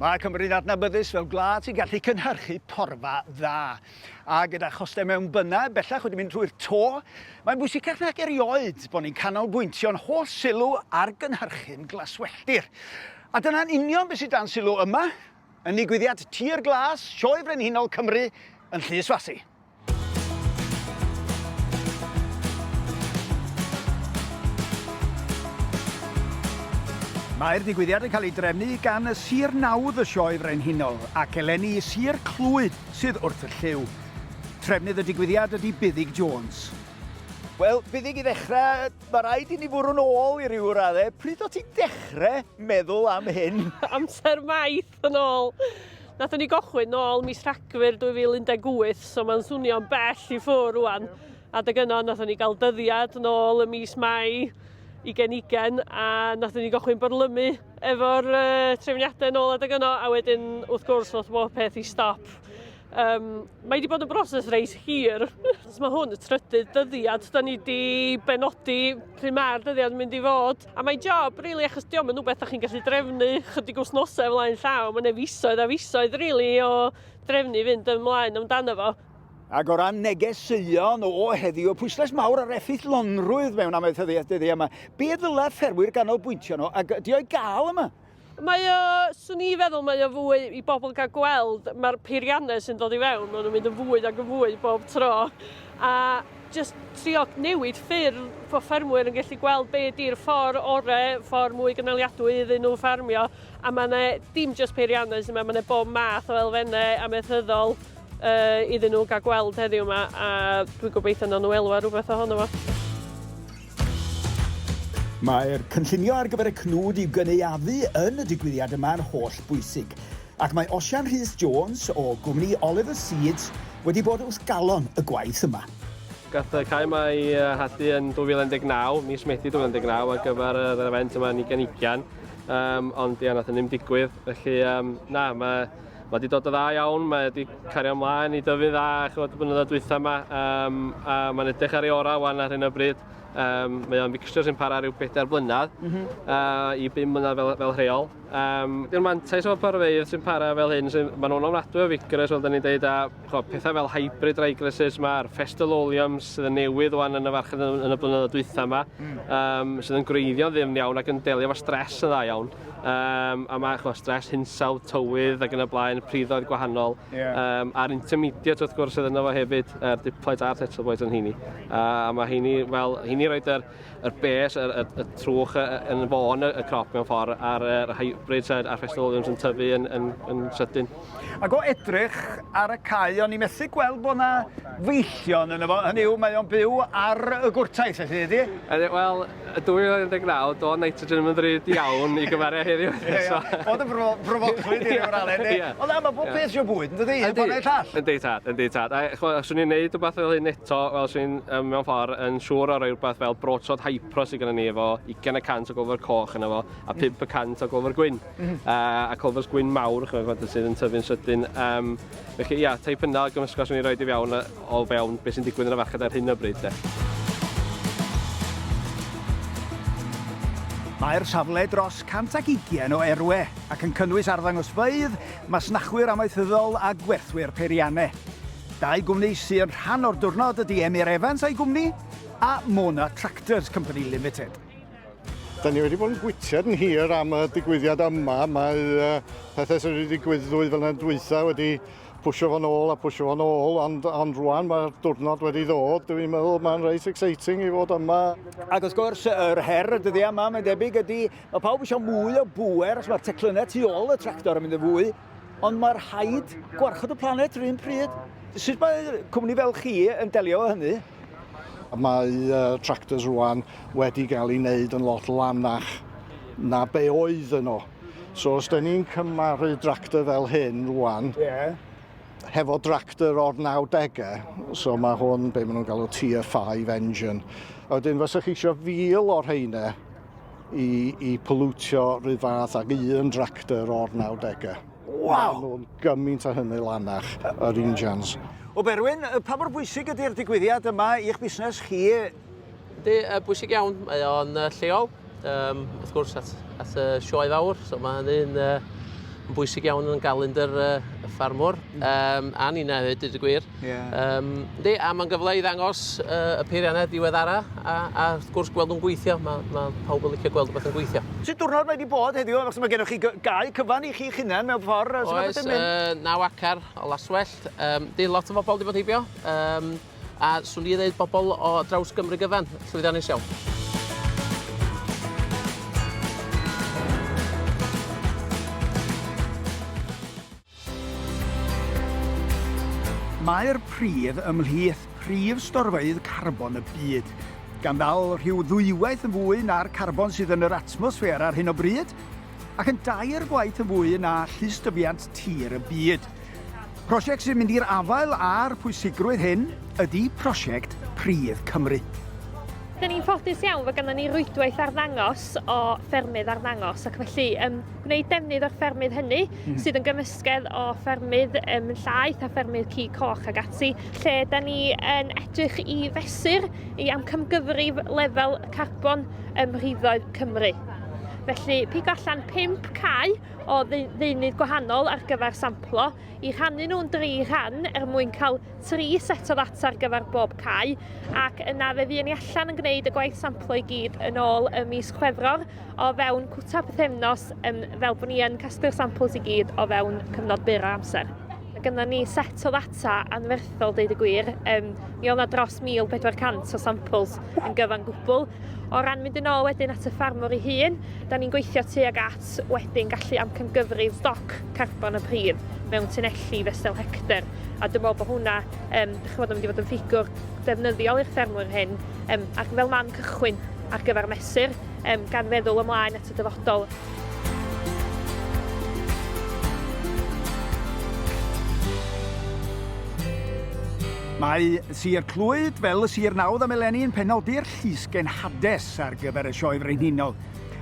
Mae Cymru'n adnabyddus fel gwlad sy'n gallu cynhyrchu porfa dda. A gyda chostau mewnbynnau bellach wedi mynd trwy'r to, mae'n bwysicach nag erioed bod ni'n canolbwyntio'n holl sylw ar gynhyrchu'n glaswelltir. A dyna'n union beth sydd dan sylw yma, yn nigwyddiad Tir Glas, Sioe Frenhinol Cymru yn Llys Fasi. Mae'r digwyddiad yn cael ei drefnu gan y Sir Nawdd y Sioe Frenhinol ac eleni Sir Clwyd sydd wrth y llyw. Trefnydd y digwyddiad ydy Buddig Jones. Wel, Buddig, i ddechrau, mae rhaid i ni fwrw'n ôl i ryw raddau. Pryd o ti'n dechrau meddwl am hyn? Amser maith! step yn ôl. Nathon ni gochwyn nôl mis Rhagfyr 2018, so mae'n swnio'n bell i ffwr rwan. Adeg yno, nathon ni gael dyddiad nôl y mis Mai i genigen, a nathon ni gochwyn byrlymu efo'r uh, trefniadau nôl adeg yno, a wedyn, wrth gwrs, nath bob peth i stop. Um, mae wedi bod yn broses reis hir. mae hwn y trydydd dyddiad, da ni wedi benodi pryd mae'r dyddiad yn mynd i fod. A mae'n job, really, achos diolch yn rhywbeth da chi'n gallu drefnu chydig wythnosau flaen llaw. Mae'n efisoedd a fisoedd, really, o drefnu fynd ymlaen amdano fo. Ac o ran negeseuon o heddiw, pwyslais mawr ar effeithlonrwydd mewn amaethyddiaeth dyddi yma. Be ddylai ffermwyr ganolbwyntio nhw ac ydy o'i gael yma? Mae o, swn i feddwl, mae o fwy i bobl gael gweld, mae'r peiriannau sy'n dod i fewn, maen nhw'n mynd yn fwy ac yn fwy bob tro. A just trio newid ffyrdd bod ffermwyr yn gallu gweld be di'r ffordd orau, ffordd mwy gynaliadwy iddyn nhw ffarmio. A mae yna dim just peiriannau sy'n yma, mae yna bob math o elfennau amaethyddol uh, iddyn nhw gael gweld heddiw yma, a dwi'n gobeithio na nhw elwa rhywbeth ohono fo. Mae'r cynllunio ar gyfer y cnwd i'w gynaeafu yn y digwyddiad yma yn holl bwysig, ac mae Osian Rhys Jones o gwmni Oliver Seeds wedi bod wrth galon y gwaith yma. Gath y cae yma ei hadu yn 2019, mis Medi 2019, ar gyfer yr event yma yn ugen ugen, um, ond ia, nath yn ddim digwydd, felly um, na, mae Mae wedi dod yn dda iawn, mae wedi cario ymlaen i dyfu'n dda chymod, y blynyddoedd dwytha yma, um, a mae'n edrych ar ei orau wan ar hyn o bryd. Um, mae o'n fixture sy'n para rhyw bedair blynedd mm -hmm. uh, i bum mlynedd fel, fel rheol. Um, Yw'r mantais o'r parfeydd sy'n para fel hyn, sy'n, maen nhw'n ofnadwy o figres, fel da ni'n dweud, a chwa, pethau fel hybrid rygresses yma, a'r festal oleums sydd yn newydd o'n yn y farchnad yn, yn y blynyddoedd dwytha yma, mm. um, sydd yn gwreiddio'n ddim iawn ac yn delio fo stres yn dda iawn. um, a mae chwa, stres hinsawdd, tywydd ac yn y blaen, priddoedd gwahanol, yeah. um, a'r intermediate wrth gwrs sydd yna fo hefyd, yr er diplets a'r settle boys yn hini. Uh, a mae hini, wel, hini roed yr, yr bes, yr, yr, yr trwch yn fôn y, y crop mewn ffordd, a'r er hybrids a'r Festival Williams yn tyfu yn, yn, yn sydyn. Ac o edrych ar y cae, o'n i'n methu gweld bod yna feillion yn efo, hynny yw, mae o'n byw ar y gwrtais, felly, ydy? Wel, Yn 2019, doedd nitrogen ddim yn ddrud iawn i gymharu â heddiw. Ie, ie. Oedd yn bro- brofoclwydd i ryw raddau, yndi? Ie. Ond na, mae pob peth isio bwyd, yn dydi? Yndi. Un ffordd neu'r llall. Yndi tad, yndi tad. A ch'mo', os swn i'n neud wbath fel hyn eto, wel, swn i'n yym mewn ffor yn siŵr o roi rwbath fel Broadshot Hypro sy gynnon ni efo ugain y cant o gofr coch yno fo, a pump y cant o gofr gwyn. Mm. A, a colfos gwyn mawr, chymryd fod sydd yn tyfu'n sydyn. Um, felly, ia, teip yna o gymysgos rwy'n ei roed i fewn o fewn beth sy'n digwydd yn y fached ar hyn o bryd. De. Mae'r safle dros 120 o erwe ac yn cynnwys arddangosfeydd, masnachwyr amaethyddol a gwerthwyr peiriannau. Dau gwmni sy'n rhan o'r diwrnod ydy Emyr Evans a'i gwmni a Mona Tractors Company Limited. Da ni wedi bod yn gwytiad yn hir am y digwyddiad yma. Mae uh, pethau sydd wedi digwydd ddwy flynedd dwytha wedi pwysio fo'n ôl a pwysio fo'n ôl, ond, ond rwan mae'r diwrnod wedi ddod. Dwi'n meddwl mae'n reit exciting i fod yma. Ac wrth gwrs, yr her y dyddiau yma, mae'n debyg, ydy, mae pawb eisiau mwy o bŵer, os mae'r teclynnau tu ôl y tractor yn mynd yn fwy Ond mae rhaid gwarchod y planet rhywun pryd. Sut mae cwmni fel chi yn delio â hynny? Mae uh, tractors rwan wedi cael ei wneud yn lot lanach na be oedd yno. So os da ni'n cymaru tractor fel hyn rwan, yeah. hefo tractor o'r 90au, so mae hwn be maen nhw'n galw tier 5 engine. A wedyn fysa chi eisiau fil o'r heine i, i polwtio rhyw fath ag un dractor o'r 90au. Wow! Nhw'n gymaint o hynny lanach, yr injans. O Berwyn, pa mor bwysig ydy'r digwyddiad yma i'ch busnes chi? Ydy, uh, bwysig iawn. Mae o'n uh, lleol, um, wrth gwrs, at, at y sioe fawr. So mae hynny'n uh, bwysig iawn yn galendr uh, y ffarmwr. Um, a ni'n hefyd, dyd y gwir. Yeah. Um, di, a mae'n gyfle i ddangos uh, y peiriannau diweddara a, a wrth gwrs gweld nhw'n gweithio. Mae, ma pawb yn licio gweld rhywbeth yn gweithio. Sut diwrnod mae wedi bod heddiw? Achos mae gennych chi gau cyfan i chi hunain mewn ffordd. Oes, oes uh, naw acar o laswellt. Um, di lot o bobl wedi bod heibio. Um, a swn i'n dweud bobl o draws Gymru gyfan, llwyddiannus iawn. Mae'r pridd ymhlith prif storfeydd carbon y byd, gan ddal rhyw ddwywaith yn fwy na'r carbon sydd yn yr atmosffer ar hyn o bryd, ac yn dair gwaith yn fwy na llystyfiant tir y byd. Prosiect sy'n mynd i'r afael â'r pwysigrwydd hyn ydi prosiect Pridd Cymru. Dyn ni'n ffodus iawn fod ganddo ni rwydwaith arddangos o ffermydd arddangos ac felly gwneud defnydd o'r ffermydd hynny, mm. sydd yn gymysgedd o ffermydd um, llaeth a ffermydd ci coch ag ati, lle da ni yn edrych i fesur i amcamgyfrif lefel carbon ym mhriddoedd Cymru. Felly, pig allan 5 cae o ddeunydd gwahanol ar gyfer samplo, i rhannu nhw'n dri rhan er mwyn cael tri set o ddata ar gyfer bob cae, ac yna fe fuon ni allan yn gwneud y gwaith samplo i gyd yn ôl y mis Chwefror o fewn cwta pythefnos um, fel bod ni yn casglu'r samples i gyd o fewn cyfnod byr o amser. Mae gennym ni set o ddata anferthol, deud y gwir. Um, mi oedd yna dros 1,400 o samples yn gyfan gwbl. O ran mynd yn ôl wedyn at y ffarmwr ei hun, da ni'n gweithio tuag at wedyn gallu amcangyfrif stoc carbon y pridd mewn tunelli fesul hector. A dwi'n meddwl bod hwnna, um, ych bod yn mynd i fod yn ffigwr defnyddiol i'r ffermwyr hyn, um, ac fel man cychwyn ar gyfer mesur um, gan feddwl ymlaen at y dyfodol. Mae Sir Clwyd, fel y Sir Nawdd am eleni, yn penodi'r llusgen Hades ar gyfer y Sioe Frenhinol,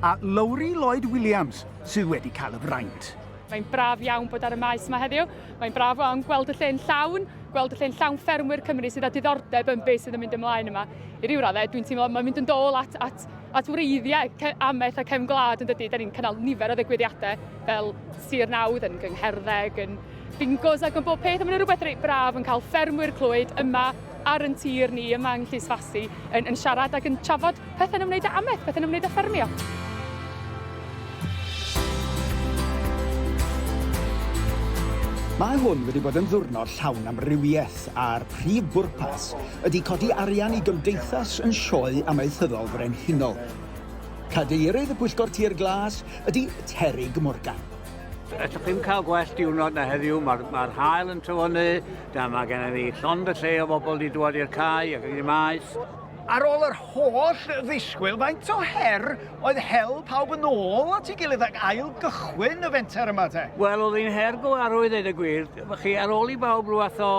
a Lowri Lloyd Williams sydd wedi cael y fraint. Mae'n braf iawn bod ar y maes yma heddiw. Mae'n braf iawn gweld y lle'n llawn, gweld y lle'n llawn ffermwyr Cymru sydd â diddordeb yn beth sydd yn mynd ymlaen yma. I ryw raddau, dwi'n teimlo mae'n mynd yn dôl at, at, at wreiddiau amaeth a cefn gwlad yn dydy. Da ni'n cynnal nifer o ddigwyddiadau fel Sir Nawdd yn gyngherddeg, yn bingos ac yn bob peth. A mae'n rhywbeth reit braf yn cael ffermwyr Clwyd yma ar yn tir ni yma yng Nghlys Fasi yn, yn siarad ac yn trafod pethau'n ymwneud â amaeth, pethau'n ymwneud â ffermio. Mae hwn wedi bod yn ddwrnod llawn amrywiaeth a'r prif bwrpas ydy codi arian i gymdeithas yn sioe amaethyddol frenhinol. Cadeirydd y Pwyllgor Tir Glas ydy Terig Morgan. Ydych chi'n cael gwell diwrnod na heddiw, mae'r ma hael yn tyfynnu, da mae gennym ni llond y lle o bobl wedi dod i'r cae ac i'r maes. Ar ôl yr holl ddisgwyl, faint o her oedd hel pawb yn ôl at ei gilydd ac ail gychwyn y fenter yma te? Wel, oedd hi'n her go arw i ddweud y gwir. Chi, ar ôl i bawb rhywbeth o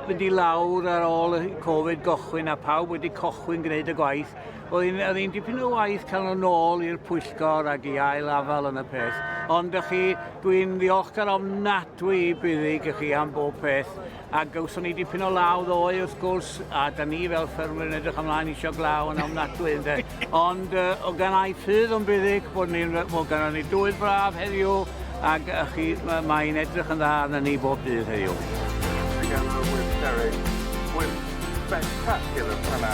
fynd i lawr ar ôl y Covid gychwyn a pawb wedi cychwyn gwneud y gwaith, Oedd hi'n dipyn o waith cael nhw'n ôl i'r pwyllgor ac i ail afal yn y peth. Ond ych chi, dwi'n ddiolchgar ofnadwy i buddig ych chi am bob peth. A gawson ni dipyn o law ddoe wrth gwrs, a da ni fel ffermwyr yn edrych ymlaen eisiau glaw yn ofnadwy ynde. Ond uh, o gan ai ffydd o'n buddig bod ni'n bod gan ni dwydd braf heddiw ac ych chi, mae'n edrych yn dda arna ni bob dydd heddiw. Diolch yn fawr, Derek. Wyth spectacular fanna.